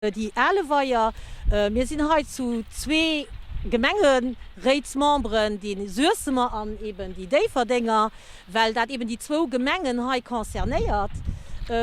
Déi ale Weier, mir sinn hei zu zwee Gemengeréitsmemberen, déi Suessemer an eben déi Déifferdenger, well dat eben déi zwou Gemengen hei concernéiert,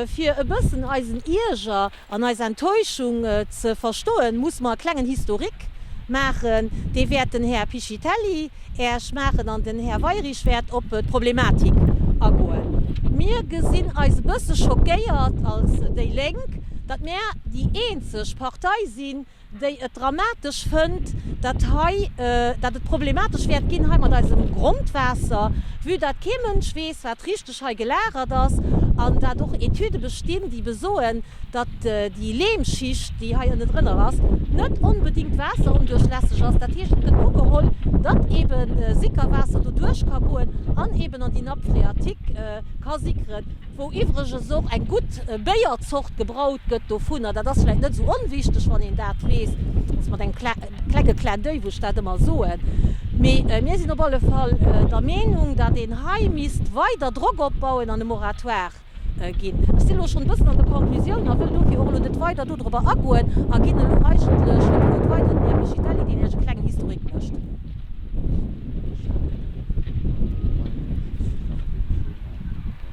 fir e bëssen eisen Ierger an eis Enttäuschung ze verstoen, musse mer e klengen Historique maachen. Dee wäert den Här Piscitelli Ech maachen, an den Här Weirich wäert op d'Problematik agoen. Mir gesinn eis e bësse schockéiert als déi Lénk, datt mir déi eenzeg Partei sinn, déi et dramatesch fënnt, datt hei, datt et problematesch wäert ginn hei mat eisem Grondwaasser, vue datt kee Mënsch weess, wat richteg, hei gelagert ass an dat och Etüde bestinn, déi besoen, datt déi Lehmschicht, déi hei ënne drënner ass, net onbedéngt waasserondurchlässeg ass. Dat heescht, et gëtt ugeholl, datt eebe Sickerwaasser doduerch ka goen an eeben an déi Nappe phréatique ka sickeren, wou iwwregens och eng gutt Béierzort gebraut gëtt dovunner. Dat ass vläicht net esou onwichteg, wann een dat weess, dass mat engem. Klenge Clin d'oeil, wou ech dat ëmmer soen. Mee mir sinn op alle Fall der Meenung, datt een hei misst weider Drock opbauen an e Moratoire ginn. Ech sinn elo schonn e bëssen an de Conclusioun a wëll dofir och elo net weider do dorobber agoen a ginn elo eigentlech dem Wort weider dem Här Buscitelli, deen Iech e klengen Historique mécht.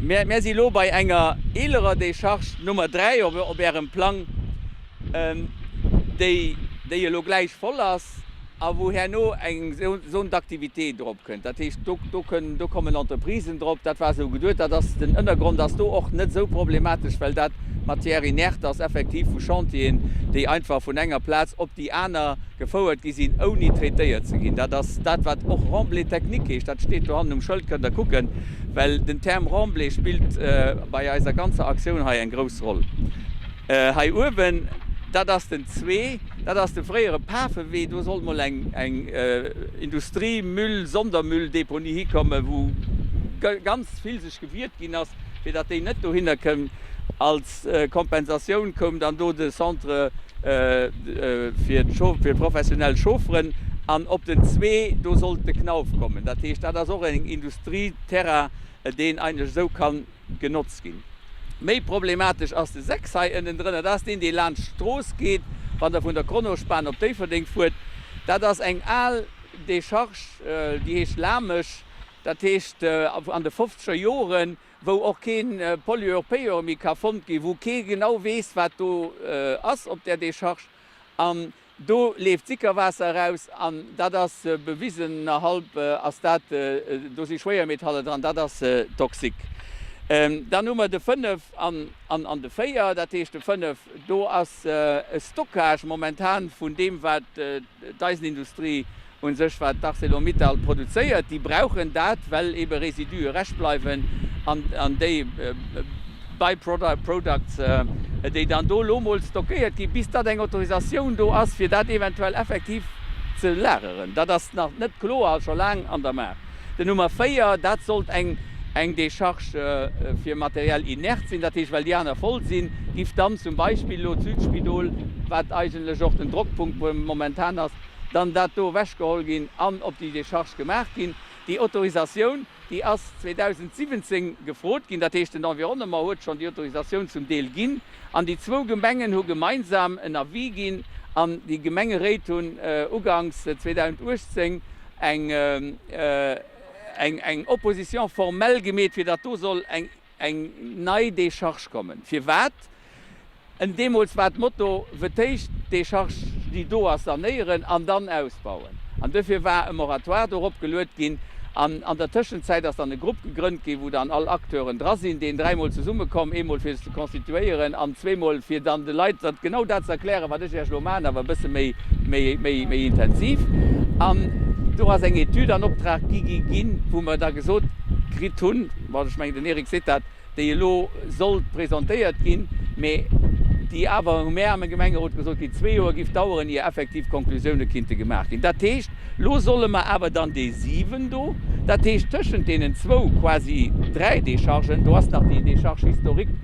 Mär si lo bei enger eelerer Decharge Nummer 3 op Ärem Plang, déi elo gläich voll ass a wou herno eng Zone d'activité drop kënnt. Dat heescht, do kommen Entreprisen drop. Dat war esou geduet. Dat ass, den Ënnergrond ass do och net esou problematesch, well dat Matière inerte ass, effektiv vu Chantieren, déi einfach vun enger Plaz op déi aner Gefouert gi sinn, ouni traitéiert ze ginn. Dat ass dat, wat och Remblai technique heescht. Dat steet do hannen um Schëld, kënnt Der kucken. Well den Term Remblai spillt bei eiser ganzer Aktioun hei eng grouss Roll. Hei uewen, dat ass den zwee. Dat ass de fréiere Pafewee. Do sollt mol eng Industrie-, Müll-, Sondermüll-Deponie hikommen, wou ganz vill sech gewiert ginn ass, fir datt déi net dohinner kënn. Als Kompensatioun koum dann do de Centre fir professionell Chaufferen an op den zwee do sollt de Knauf kommen. Dat heescht, dat ass och en Industrieterrain, deen eigentlech esou ka genotzt ginn. Méi problematesch ass de 6 hei ënnendrënner. Dat ass deen, dee laanscht d'Strooss geet, wann Der vun der Kronospan op Déifferdeng fuert. Dat ass eng al Decharge, déi heescht Lamesch. Dat heescht, an de fofzeger Joren wou och kee Pollueur payeur méi ka fonnt ginn, wou kee genau weess, wat do ass op där Decharge. An do leeft Sickerwaasser eraus an dat ass bewisen, nerhalb ass dat, do si Schwéiermetalle dran, dat ass toxique. Dann hu mer de 5 an de 4, dat heescht de 5, do ass e Stockage momentan vun deem, wat D'Eisenindustrie un sech, wat d'Arcelor-Mittal produzéiert, déi brauchen dat, well eebe Residue rescht bleiwen an déi By-products, déi dann do elo emol stockéiert ginn, bis datt eng Autorisatioun do ass, fir dat eventuell effektiv ze lageren. Dat ass nach net kloer a scho laang an der Maach. Den Nummer 4, dat sollt eng eng Décharge fir Matériel inerte sinn. Dat heescht, well déi aner voll sinn, giff dann zum Beispill elo d'Südspidol, wat eigentlech och den Drockpunkt momentan ass, dann dat do ewech geholl ginn an op déi Décharge gemaach ginn. Déi Autorisatioun, déi ass 2017 gefrot ginn. Dat heescht, den Environnement huet schonn déi Autorisatioun zum Deel ginn. An déi zwou Gemengen hu gemeinsam en Avis ginn an déi Gemengeréit hunn uganks 2018 eng Opposition formelle gemeet, fir datt do soll eng nei Decharge kommen. Firwat? Deemools war d'Motto, Wéi d'éischt d'Decharge, déi do ass, sanéieren an dann ausbauen. An dofir war e Moratoire dorop geluet ginn. An an der Tëschenzäit ass dann e Grupp gegrënnt ginn, wou dann all Acteuren dra sinn, deen dräimol zesummekomm, eemol fir sech ze constituéieren an zweemol fir dann de Leit dat genau dat ze erklären, wat ech Iech elo man, awer e bësse méi, méi, méi, méi intensiv. An do ass eng Etüd an Optrag gi ginn, wou mer da gesot kritt hunn, bon, ech mengen, den Eric seet dat, déi elo sollt presentéiert ginn, mä déi awer, hu mär am Gemengerot gesot, déi zwee Joer giff daueren, ier effektiv Konklusioune kinnte gemaach ginn. Dat heescht, elo solle mer awer dann déi siwen do, dat heescht tëschent deenen zwou, quasi dräi Déchargen, do ass nach déi Décharge historique,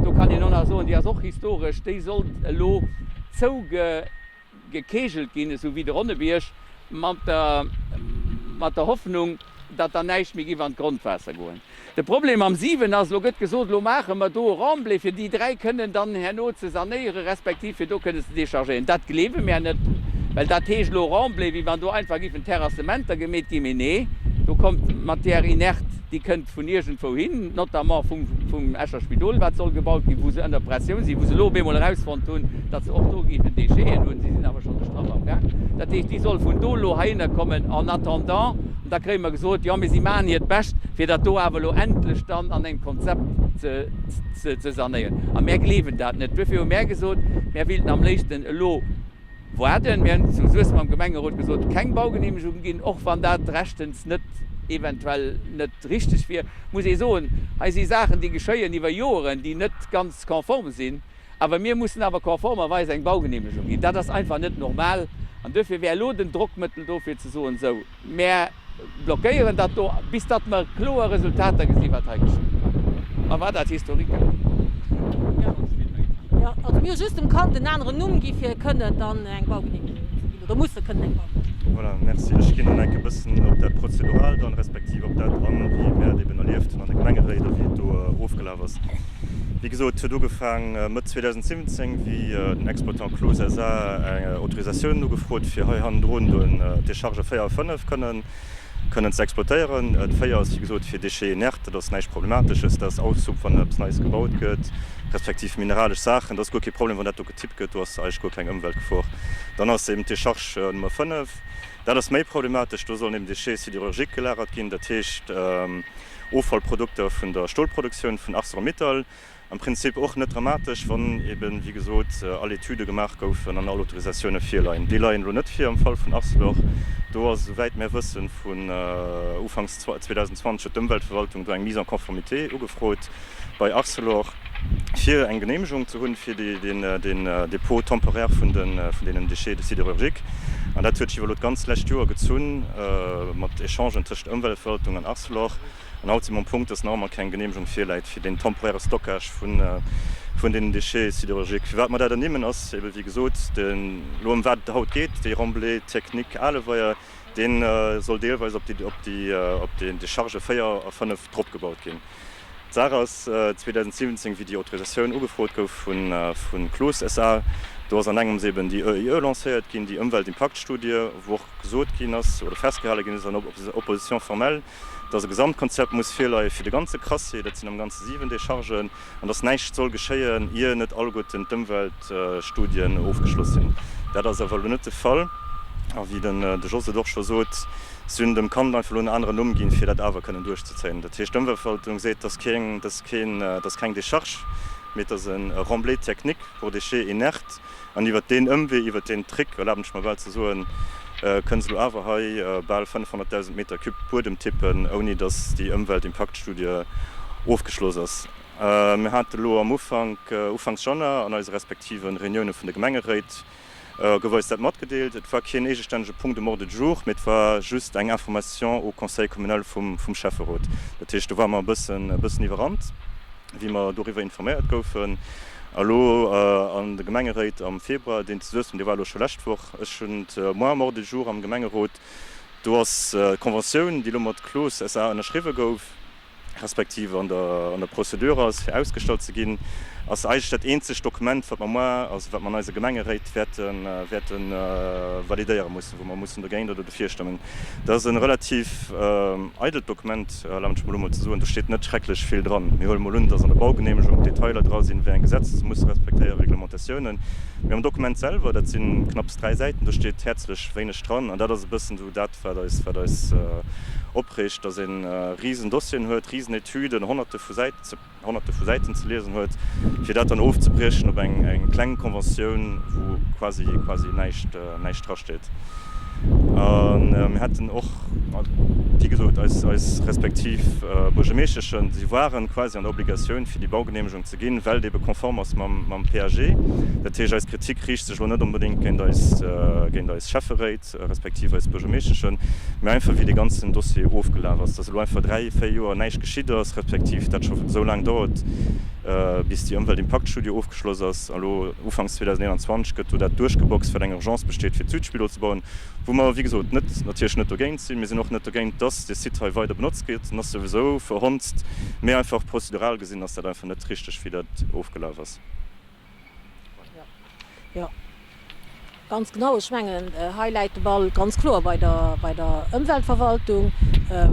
do kann een och nach soen, déi ass och historesch, déi sollt elo zouge. gekeegelt ginn, esou wéi de Ronnebierg, mat der Hoffnung, datt dann näischt méi giff an d'Grondwaasser goen. De Problem am 7 ass, elo gëtt gesot, elo maache mer do e Remblai, fir déi 3 kënnen dann herno ze sanéiere respektiv fir do kënnen ze dechargéieren. Dat gleewe mär net, well dat heescht elo Remblai, wéi wann do einfach giffen Terrassementer gemeet ginn. Mee nee, do kommt Matière inerte. Déi kënnt vun iergendwou hin, notamment vum Escher Spidol, wat soll gebaut ginn, wou se ënner Pressioun sinn, wou se elo op eemol erausfonnt hunn, datt se och do géifen Décheten hunn. Si sinn awer schonn de Strapp amgaang. Dat heescht, déi solle vun do elo heihinner kommen en attendant. An da kréie mer gesot, Jo, mee si maachen hiert Bescht, fir dat do awer elo endlech dann an engem Konzept ze sanéieren. A mär gleewen dat net. Duerfir hu mär gesot, Mär wéilten am léifsten elo, Woarden. Mir hunn zu Suessem am Gemengerot gesot, keng Baugeneemegung ginn, och wann dat rechtens net, eventuell net richteg wier, muss ee soen, hei si Saachen déi geschéien iwwer Joeren, déi net ganz konform sinn, awer mir mussen awer konformerweis eng Baugeneemegung ginn. Dat ass einfach net normal an duerfir wär elo den Drockmëttel do fir ze soen, sou. Mär blockéieren dat do, bis datt mer kloer Resultater gesinn, wat hei geschitt. Mer war dat historique. Also mir hu just dem Kand en aneren Numm gi fir e kënnen dann eng Baugenehmegung ze ginn oder musse kënnen eng Baugenehmegung. Voilà, merci. Ech ginn dann enke bëssen op dat Prozeduralt an, respektiv op dat an, wéi mär et eben erlieft hunn an de Gemengeréit a wéi et do ofgelaf. Ass, wéi gesot, huet ugefaang Mëtt 2017, wéi den Exploitant Cloos SA. eng Autorisatioun ugefrot, fir hei hannendrun do en Déchargeur 4 a 5 kënnen, kënnen ze exploitéieren. D' 4 ass, wéi gesot, fir Déchets inertes. Dat ass näischt Problematesches. Dat ass Aushub, wann eppes Neies gebaut gëtt, respektiv mineralesch Saachen. Dat ass guer kee Problem, wann dat do getippt gëtt. Do ass eigentlech guer keng Ëmweltgefor. Dann ass eben d'Décharge Nummer 5. Dat ass méi problematesch. Do sollen eben Déchets sidérurgiques gelagert ginn. Dat heescht. Offallprodukter vun der Stolproduktioun vun Arcelor-Mittal, am Prinzip och net dramatesch, wann eben, wéi gesot, all Etüde gemaach goufen an all Autorisatioune virleien. Déi leien elo net vir am Fall vun Arcelor. Do ass, esouwäit mär wëssen, vun Ufanks 2020 huet d'Ëmweltverwaltung do eng Mise en conformité ugefrot. bei Arcelor, fir eng Geneemegung ze hunn, fir den Dépôt temporaire vun deenen Déchets sidérurgiques. An dat huet sech iwwer elo d'ganz lescht Joer gezunn, mat Echangen tëschent Ëmweltverwaltung an Arcelor. An haut si mer um Punkt, dass nach ëmmer keng Geneemegung virläit fir deen temporaire Stockage vun deenen Déchets sidérurgiques. Firwat mer dat ernimmen, ass ebe wéi gesot, elo ëm wat et haut geet, déi Remblai-Technique Aleweier, Dee soll deelweis op déi Decharge 4 a 5 dropgebaut ginn. D'Saach ass 2017, wéi déi Autorisatioun ugefrot gouf vu Cloos SA, do ass an engems eben déi EIE lancéiert ginn, déi Ëmweltimpaktstudie, wou och gesot ginn ass oder festgehale ginn ass an Opposition formelle, dass e Gesamtkonzept muss virleie fir de ganze Crassier, dat sinn am Ganze 7 Dechargen, an dass näischt soll geschéien, ier net alleguerten d'Ëmweltstudien ofgeschloss sinn. Dat ass awer elo net de Fall. A wéi den De Jos et och scho sot, si hunn dem Kand einfach elo en aneren Numm ginn, fir dat awer kënnen duerchzezéien. Dat heescht, d'Ëmweltverwaltung seet, dass keng, dass keng Décharge, mee dass e Remblai technique pour déchets inertes, An iwwert deen Ëmwee, iwwert deen Trick, erlaben ech mer bal ze soen, kënn se elo awer hei bal 500.000 Meter Cube Buedem tippen, ouni datt déi Ëmweltimpaktstudie ofgeschloss ass. Mir hate lo am Ufank, ufanks Januar, an eise respektive Reunioune vun de Gemengeréit gouf eis dat matgedeelt. Et war keen eegestännege Punkt um Ordre du jour, mee et war just eng Information au Conseil communal vum Schäfferot. Dat heescht, do ware mer e bëssen iwwerrannt. wéi mer doriwwer informéiert goufen, elo an de Gemengeréit am Februar, deen ze suessem, dee war elo scho lescht Woch, ech hunn d'Mémoire mort de jour am Gemengerot, do ass d'Conventioun, déi elo mat Cloos SA. Ënnerschriwwe gouf, respektiv an der Procédure ass, fir ausgestallt ze ginn, ass eigentlech dat eenzegt Dokument, wat mer moi, also wat mer an eise Gemengeréit wäerte validéiere mussen. wou mer mussen dergéint oder dofir stëmmen. Dat ass e relativ eidelt Dokument, erlaabt mech mol emol ze soen. Do steet net schrecklech vill dran. Mir huele mol un, dass an der Baugenehmegung d'Detailer dra sinn, wéi eng Gesetz muss respektéieren, Reglementatiounen. Mee am Dokument selwer, dat si knapps dräi Säiten, do steet häerzlech wéineg dran. An dat ass e bëssen esou dat, wat eis, wat eis opreegt, dass ee Riesendossieren huet, Riesenetüden, Honnerte vu Säiten ze. Honnerte vu Säiten ze liesen huet, fir dat dann ofzebriechen op eng kleng Conventioun, wou quasi, quasi näischt, näischt drasteet. A mir hätten och, wéi gesot, eis, eis respektiv Buergermeeschteschen, si waren quasi an der Obligatioun, fir déi Baugeneemegung ze ginn, well et ebe konform ass mam, mam PAG. Dat heescht, eis Kritik riicht sech elo net onbedéngt géint eis, géint eis Schäfferéit. respektiv eis Buergermeeschteschen, mä einfach wéi dee ganzen Dossier ofgelaf ass, dass elo einfach dräi, véier Joer näischt geschitt ass, respektiv dat scho esou laang dauert, bis déi Ëmweltimpaktstudie ofgeschloss ass. An elo ufanks 2021 gëtt do dat duerchgeboxt, wat eng Urgence besteet, fir d'Südspidol ze bauen, wou mer, wéi gesot, net, natierlech net dogéint sinn. Mir sinn och net dogéint, dass dee Site hei weider benotzt gétt, en ass souwisou verhonzt, mä einfach prozedural gesinn ass dat einfach net richtig, wéi dat ofgelaf ass. Jo, ganz genau. Ech mengen, hei läit de Ball ganz kloer bei der, bei der Ëmweltverwaltung,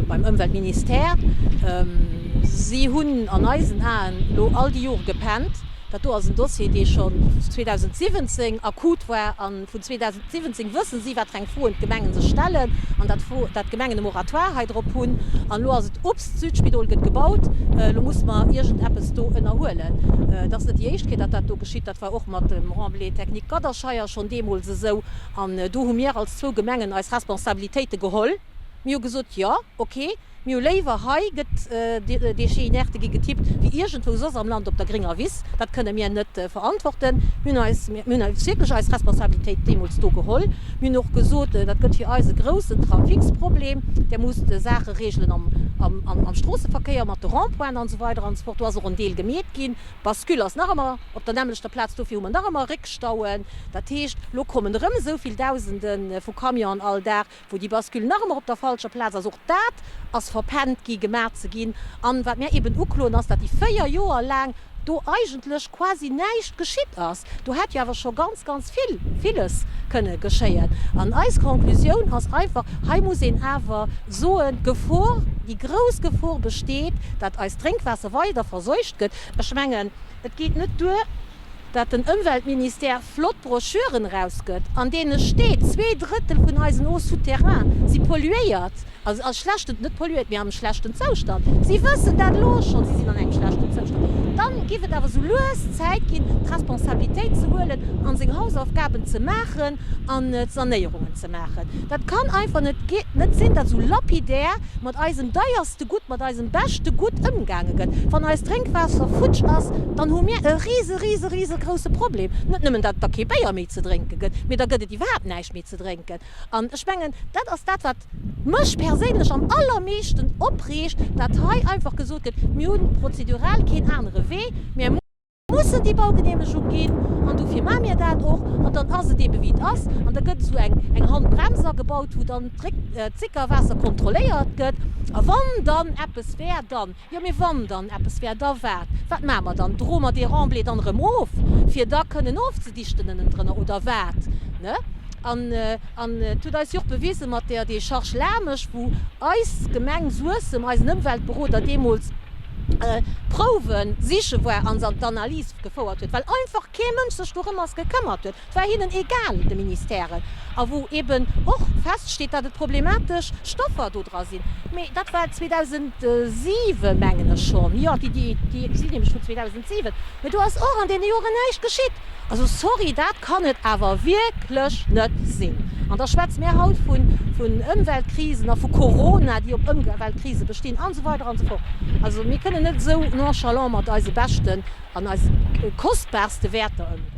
beim Ëmweltministère. Si hunn an eisen Aen elo all déi Jore gepennt. Dat do ass en Dossier, dee schonn 2017 akut war. Vun 2017 wësse si, wat fir eng Froen d'Gemengen sech stellen an dat dat d'Gemengen e Moratoire hei drop hunn. An elo ass et ups, d'Südspidol gëtt gebaut, elo muss mer iergendeppes do ënnerhuelen. Et ass net déi éischt Kéier, datt dat do geschitt. Dat war och mat dem Remblai technique Gadderscheier schonn deemools esou. An do hu mir als zwou Gemengen eis Responsabilitéite geholl. Mir hu gesot, Jo, okay, Mir hu léiwer, hei gëtt de Chien inerte gi getippt, wéi iergendwou soss am Land op der grénger Wiss. Dat kënne mir net verantworten. Mir hunn eis, mir hunn eis wierklech eis Responsabilitéit deemools do geholl. Mir hunn och gesot, dat gëtt fir eis e groussen Trafiksproblem, där muss d'Saache reegelen am Stroosseverkéier mat de Rond-pointen an esou weider an esou fort. Do ass och en Deel gemeet ginn. D'Bascule ass nach ëmmer op der nämmlechter Plaz, dofir hu mer nach ëmmer Réckstauen. Dat heescht, elo kommen erëm esou vill Dausende vu Camionen all Dag. wou déi Bascule nach ëmmer op der falscher Plaz ass, och dat ass verpennt gi gemaach ze ginn. An wat mär eben ukloen, ass, datt déi véier Joer laang do eigentlech quasi näischt geschitt ass. Do hätt jo awer scho ganz, ganz vill, villes kënne geschéien. An eis Conclusioun ass einfach, hei muss een awer soen, d'Gefor, déi grouss Gefor besteet, datt eist Drénkwaasser weider verseucht gëtt. Ech mengen, et geet net duer, dat den Ëmweltministère flott Broschüren erausgëtt, an deene steet, zwee Drëttel vun eisen Eaux souterraines si polluéiert, also a schlechten, net polluéiert, mee am schlechten Zoustand. Si wëssen dat elo schonn, si sinn an engem schlechten Zoustand. Dann géif et awer esou lues Zäit ginn, d'Responsabilitéit ze huelen a seng Hausaufgaben ze maachen an d'Sanéierungen ze maachen. Dat kann einfach net, geet net sinn, dat esou lapidär mat eisem deiersten, beschte Gutt mat eisem beschte Gutt ëmgaange gëtt. Wann eist Drénkwaasser futsch ass, dann hu mir e rise, rise, risegrousse Problem. Net nëmmen, datt et da kee Béier méi ze drénke gëtt, mee da gëtt et iwwerhaapt näischt méi ze drénken. An ech mengen, dat ass dat, wat mech perséinlech am allermeeschten opreegt, datt hei einfach gesot gëtt, mir hu prozedural keen anere Wee, mir. Mussen déi Baugeneemegung ginn an dofir maache mir dat och. An dann ass et eebe wéi et ass an da gëtt esou eng Handbrems agebaut, wou dann d'Réckzickerwaasser kontrolléiert gëtt. A wann dann eppes wär, dann, jo, mee wann dann eppes wär, da wat? Wat maache mer dann? Droe mer dee Remblai dann erëm of, fir da kënnen ofzedichten ënnendrënner oder wat? Ne? An et huet eis jo och bewise mat där Decharge Lamesch, wou eis Gemeng Suessem, eisen Ëmweltberoder deemools, Prouwen siche war an se an d'Analys gefouert huet, well einfach kee Mënsch sech dorëmers gekëmmert huet. Et war hinnen egal, de Ministèren, a wou eeben och feststeet, datt et problematesch Stoffer do dra sinn. Mee dat war 2007, mengen ech schonn, jo, déi si nämlech vun 2007, mee do ass och an deene Joren näischt geschitt. Also sorry, dat kann et awer wierklech net sinn. An da schwätze mir haut vun Ëmweltkrisen a vu Corona, déi op Ëmweltkrise bestinn an esou weider an esou fort. Also mir kënnen net esou nonchalant mat eise beschten an eise kostbarste Wäerter ëmgoen.